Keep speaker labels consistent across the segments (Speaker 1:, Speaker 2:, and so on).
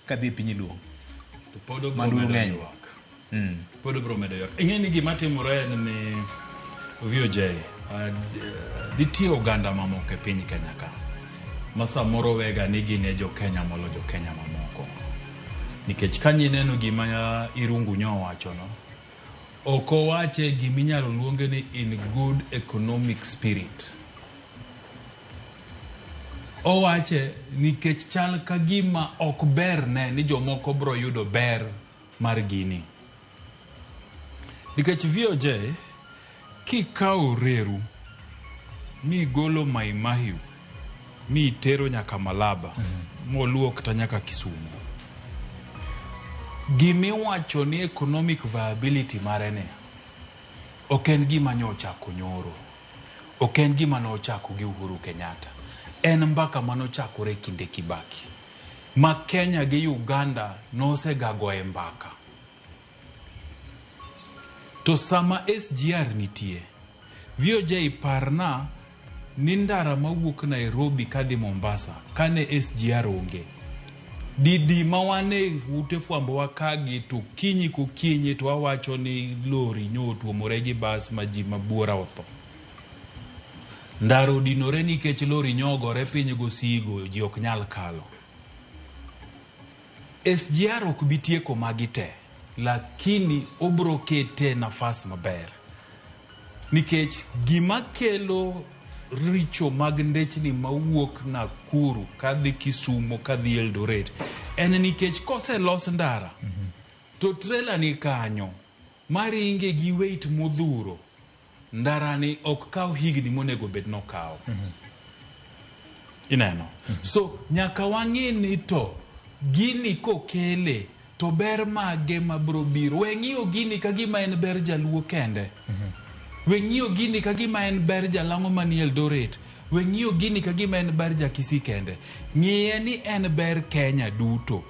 Speaker 1: kadhi e piny luo to pod obro
Speaker 2: Manduru medo ng'eny. ywak. mm. pod obro medo ywak ing'e ni gima timore en ni voj nitie oganda mamoko e piny kenya ka ma samoro wega ni gin e jokenya molo jokenya mamoko nikech ka nyi neno gima irungu nyo owachono Ok owache gima inyalo luonge ni in good economic spirit. Owache nikech chal ka gima ok berne ni jomoko biro yudo ber mar gini. Nikech VOJ Kikawo reru migolo Mai Mahiu mitero nyaka Malaba moluwo kata nyaka Kisumu, gimiwacho ni economic viability mare ni ok en gima nyochako nyoro, ok en gima nochako gi Uhuru Kenyatta, en mbaka manochakore e kinde Kibaki ma Kenya gi Uganda nosegagoe mbaka To sama SGR nitie. Viojai parna ni ndara mawuok Nairobi kadhi Mombasa kane SGR onge. Didi ma wan e ute fwambo wakagi to kinyi kokinyi to wawacho ni lori nyo otuomore gi bas ma ji mabuora otho. Ndara odinore nikech lori nyo ogore piny gosigo ji ok nyal kalo. SGR ok bi tieko magi te lakini obro kete e nafas maber nikech gima kelo richo mag ndechni mawuok Nakuru kadhi Kisumo kadhi Eldoret en nikech koselos ndara to trela ni kanyo maringe gi weight modhuro Ndarani ok kaw higni monego bed nokawo. Ineno? So nyaka wang'i ni to gini kokele to ber mage ma bro biro. We ng'iyo gini ka gima en ber jaluo kende. We ng'iyo gini ka gima en ber jalang'o manie Eldoret. We ng'iyo gini ka gima en ber ja Kisii kende. Ng'iye ni en ber Kenya duto.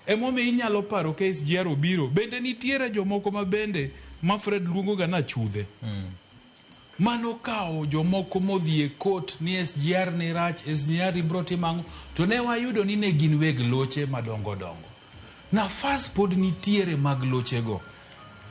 Speaker 2: Emomiyo inyalo paro ka SGR obiro, bende nitiere jomoko ma bende ma Fred luongo ga ni achudhe. Mane okawo jomoko modhi e court ni SGR ni rach, SGR ni biro timo ang'o. To ne wayudo ni ne gin weg loche madongo dongo. Nafas pod nitiere mag loche go.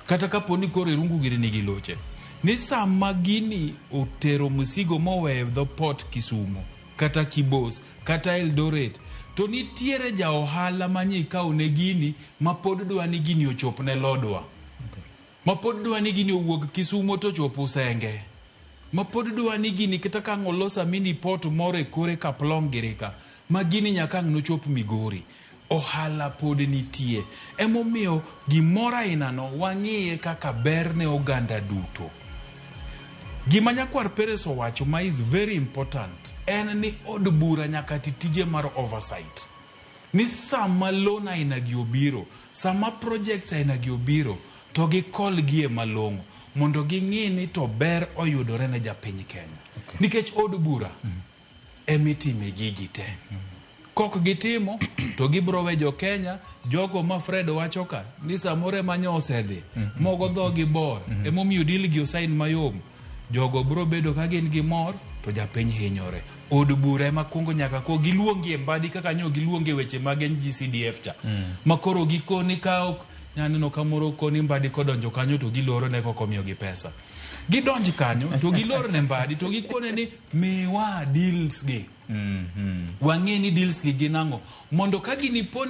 Speaker 2: Kata ka po ni koro Irungu gini nigi loche. Ni sama gini otero msigo moweyo e dho port Kisumo. kata Kibos kata Eldoret to nitiere ja ohala ma nye ikawo ne gini ma pod dwa ni gini ochop ne lodwa ma pod dwa ni gini owuog Kisumo to chop Usenge ma pod dwa ni gini kata ka ang' olos a mini port moro e kore Kaplong giri ka ma gini nyaka ang' nochop Migori. Ohala pod nitie. Emomiyo gimoro ainano wang'iye kaka ber ne oganda duto. Gima nyakwar Peres owacho ma is very important en ni od bura nyaka ti tije mar oversight. Ni sama loan ainagi obiro, sama projects ainagi obiro to gi call gi e malong'o mondo ging'i ni to ber oyudore ne japiny Kenya. Nikech od bura. emitime gigi te kok gitimo to gibro we jo Kenya jogo ma Fred wacho ka ni samoro ema nyo osedhi mogo dhogi bor emomiyo deal gi osain mayom jogo bro bedo ka gin gi mor to japiny hinyore od bura ema kwongo nyaka ko giluongi e mbadi kaka nyo giluonge weche mag NGCDF cha ma koro gikoni ka ok nyaneno kamoro koni mbadi kodonjo kanyo to giloro ne koko miyogi pesa gidonj kanyo to gilor ne mbadi to gikone ni Miwa deals gi. Wang'e ni deals gi gin ang'o. Mondo ka gini poni